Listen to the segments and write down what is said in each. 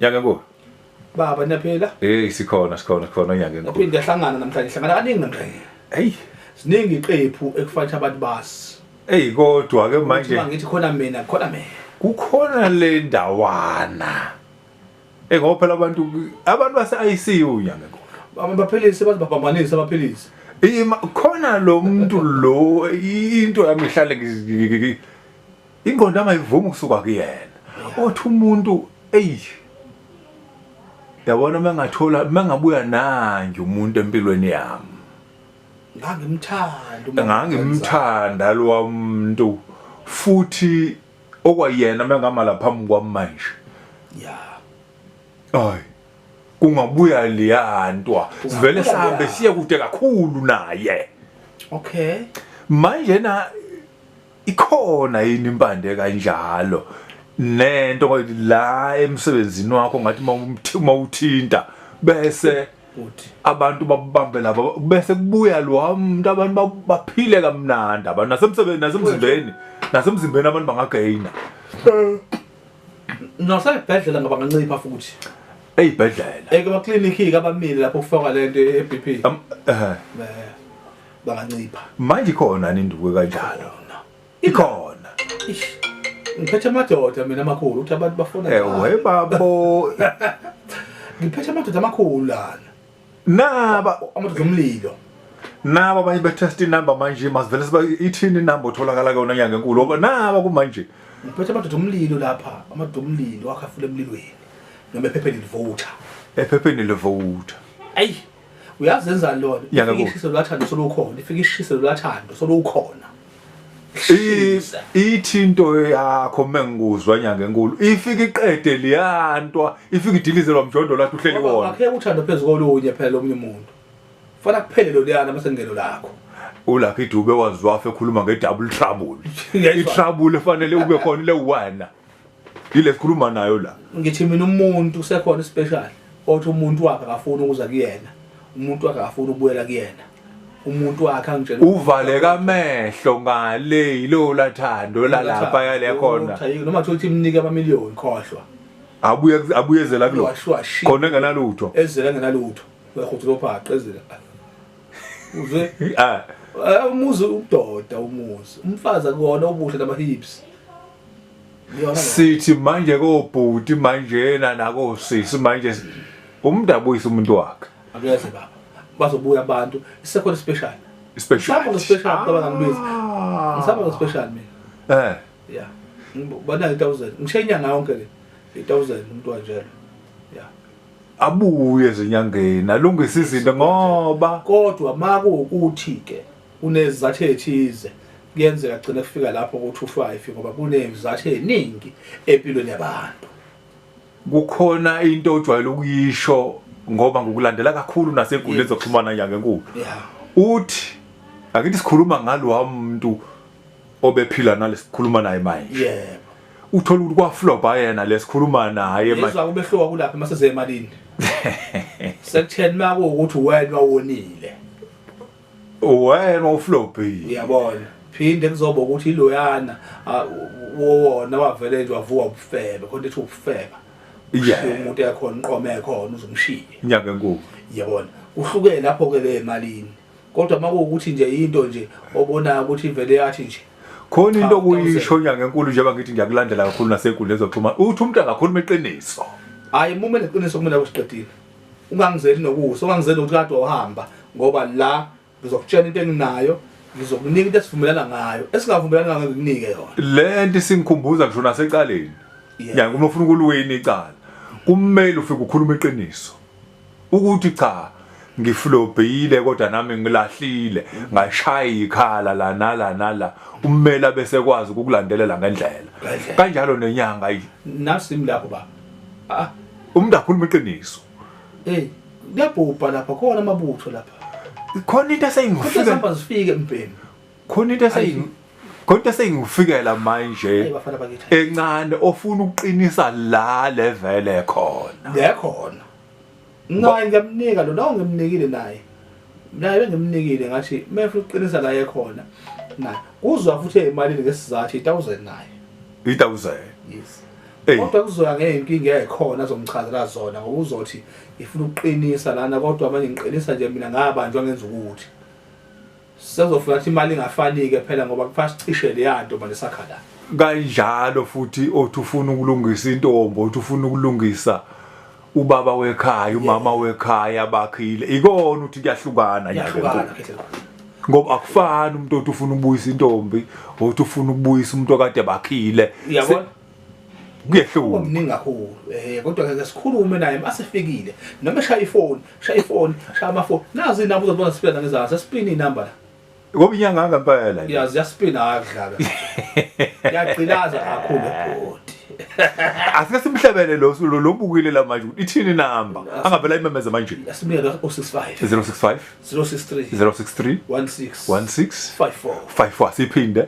Nyaka kuwe. Baba niyaphila? Hey sikhona sikhona sikhona nyaka kuwe. Naphinde yahlangana namhlanje hlangana kaningi namhlanje. Hey ziningi iqephu ekufanele abantu basi. Hey kodwa ke manje. Uma ngithi khona mina khona mina. Kukhona le ndawana. Eh ngoba phela abantu abantu base ICU nyaka kuwe. Baba baphilise bathi babambanise abaphilise. Ima khona lo muntu lo into yami ihlale ingqondo angayivumi ukusuka kuyena othi umuntu eyi yabona uma ngathola uma ngabuya nanje umuntu empilweni yami ngangimthanda ngangimthanda lo muntu futhi okwayena uma ngama la phambi kwami manje ya ay kungabuya liyantwa sivele sihambe siye kude kakhulu naye okay manje na ikhona yini impande kanjalo nento la emsebenzini wakho ngathi uma uthinta bese abantu babambe laba bese kubuya lo umuntu abantu baphile kamnandi abantu nasemsebenzini nasemzimbeni nasemzimbeni abantu bangagaina eh, nasebhedlela ngaba ngancipha futhi eyibhedlela ekubaclinic abamile lapho kufakwa lento eBP eh, eh. bangancipha manje ikhona ninduku kanjalo ikhona ngiphethe amadoda mina amakhulu ukuthi abantu bafona ewe eh, babo ngiphethe amadoda amakhulu lana naba amadoda omlilo naba abanye betest inumber manje masivele siba ithini inumber otholakala kuyona nyanga enkulu ngoba naba kumanje ngiphethe amadoda omlilo lapha amadoda omlilo akhafule emlilweni noma ephepheni livota ephepheni livota ayi uyazi enzani lona ifike ishise lwathando solukhona ifike ishise lwathando solukhona ithi into yakho mengikuzwa nyanga enkulu ifike iqede liyantwa ifike idilizelwa mjondo lathi uhleli wona akhe uthando phezulu kolunye phela omunye umuntu fana kuphele lo liyana mase ngelo lakho uLucky Dube wazwafa ekhuluma nge double trouble i trouble efanele ube khona le wena yile sikhuluma nayo la ngithi mina umuntu usekhona special othi umuntu wakhe akafuni ukuza kuyena umuntu wakhe akafuni ukubuyela kuyena umuntu wakhe angitshela uvaleka amehlo ngale yilo lathando lalapha yale khona noma thothi imnike ama million khohlwa abuye abuyezela kulo khona engenalutho ezela engenalutho uyakhuthuka ophaqa ezela uzwe ah eh, umuzi udoda umuzi umfazi akuwona ubuhle namahips sithi manje kobhuti manjena nakosisi manje umuntu abuyise umuntu wakhe akuyeze baba bazobuya abantu isekhona special special ngisaba special baba ngibiza ah. ngisaba special mina eh ya bana 1000 ngishe inyanga yonke le 1000 umuntu wanjalo ya abuye ezinyangeni alungise izinto ngoba kodwa makuwukuthi ke Kunezizathu ezithize kuyenzeka kugcine kufika lapho ku-25 ngoba kunezizathu eziningi empilweni yabantu. Kukhona into ojwayele ukuyisho ngoba ngokulandela kakhulu nasegulini ezoxhumana nyanga enkulu. Uthi akithi sikhuluma ngalowa muntu obephila nalesikhuluma naye manje. Yebo. Uthola ukuthi kwaflopa yena lesikhuluma naye manje. Yezwa kubehloka kulapha mase zemalini. Sekutheni makuwukuthi wena wonile. wena uflopile uyabona phinde kuzoba ukuthi iloyana ah, wona wavele nje wavuka ubufebe khona ethi ubufeba Yeah. Ushiye umuntu ekhona inqoma ekhona uzomshiya inyanga enkulu yabona kuhlukene lapho ke le emalini kodwa uma kuwukuthi nje into nje obonayo ukuthi ivele yathi nje khona into Cha, okuyisho inyanga enkulu njengoba ngithi ngiyakulandela kakhulu nasenkundleni zokuxhumana uthi umuntu angakhuluma iqiniso hayi mume neqiniso kumele akusiqedile ungangizeli nokusa ungangizeli ukuthi kade wahamba ngoba la ngizokutshela into enginayo ngizokunika into esivumelana ngayo esingavumelani ngayo ngikunike yona le nto isingikhumbuza ngisho nasecaleni ya uma ufuna ukuliwina icala kumele ufike ukhuluma iqiniso ukuthi cha ngiflobhile kodwa nami ngilahlile ngashaya ikhala la nala nala ummeli abese kwazi ukukulandelela ngendlela kanjalo nenyanga nasi lapho baba Ah, umuntu akhuluma iqiniso. Hey, kuyabhubha lapha khona amabutho lapha. Khona into eseyingifika. Khona sifike mbhemu. Khona into eseying Khona into eseyingifikela manje. Encane ofuna ukuqinisa la level ekhona. Lekhona. Ngaye ngiyamnika lo nawo ngimnikile naye. Naye bengimnikile ngathi mefuna uqinisa la ekhona. Na kuzwa futhi emalini ngesizathu 1000 naye. 1000. Yes. Hey. Kodwa kuzoya ngeyinkinga ekhona azomchazela zona ngoba uzothi ifuna ukuqinisa lana kodwa manje ngiqinisa nje mina ngabandwa ngenza ukuthi. Sezofuna ukuthi imali ingafani ke phela ngoba kuphasa cishe leyanto manje sakhala. Kanjalo futhi othi ufuna ukulungisa intombo, othi ufuna ukulungisa ubaba wekhaya, umama wekhaya bakhile. Ikona uthi kuyahlukana nje ngoba akufani umuntu othi ufuna ukubuyisa intombi othi ufuna ukubuyisa umuntu okade bakhile kuyehlula omningi kakhulu eh kodwa ke sikhulume naye masifikile noma shaya ifoni shaya ifoni shaya amafoni nazi inamba uzobona siphela ngezansi sipini inamba la ngoba inyanga ngempela yazi yasipina akudlala yagcilaza kakhulu bhoti asike simhlebele lo sulo lobukile la manje ithini namba angavela imemeze manje asimele 065 065 063 063 16 16 54 54 siphinde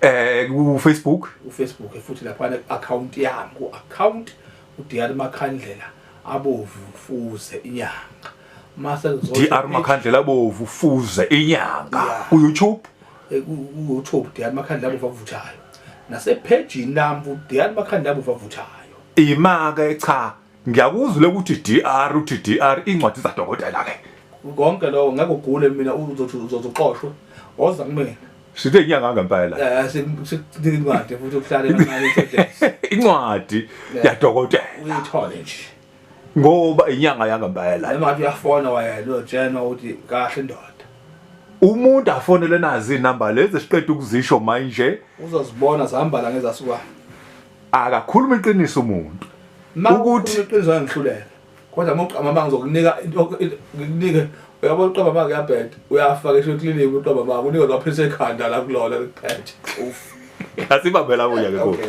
Eh ku Facebook, u Facebook futhi lapha ne account yami ku account uDr Makhandlela abovu fuze inyanga. Mase ngizothe DR Makhandlela abovu fuze inyanga ku YouTube. Eh, ku YouTube DR Makhandlela abovu avuthayo. Nase page nami uDr Makhandlela abovu avuthayo. Imake cha ngiyakuzwile ukuthi DR uthi DR incwadi zadokotela ke konke lokho ngeke ugule mina uzothi uzozoxoshwa oza kumina sithe inyanga ngempela eh sikunika incwadi futhi ukuhlale kancane incwadi yadokotela uyithole nje ngoba inyanga yangempela noma uyafona wayena uyotshenwa ukuthi kahle ndoda umuntu afonele nazi inamba lezi siqeda ukuzisho manje uzozibona zihamba la ngezasukwana akakhuluma iqiniso umuntu ukuthi iqiniso angihluleka kodwa muqama manje ngizokunika ngikunike uyabo uqaba manje uyabheda uyafa ke shwe clinic uqaba manje unika lwaphisa ekhanda la kulona likuphethe uf asibambela kuya ke kodwa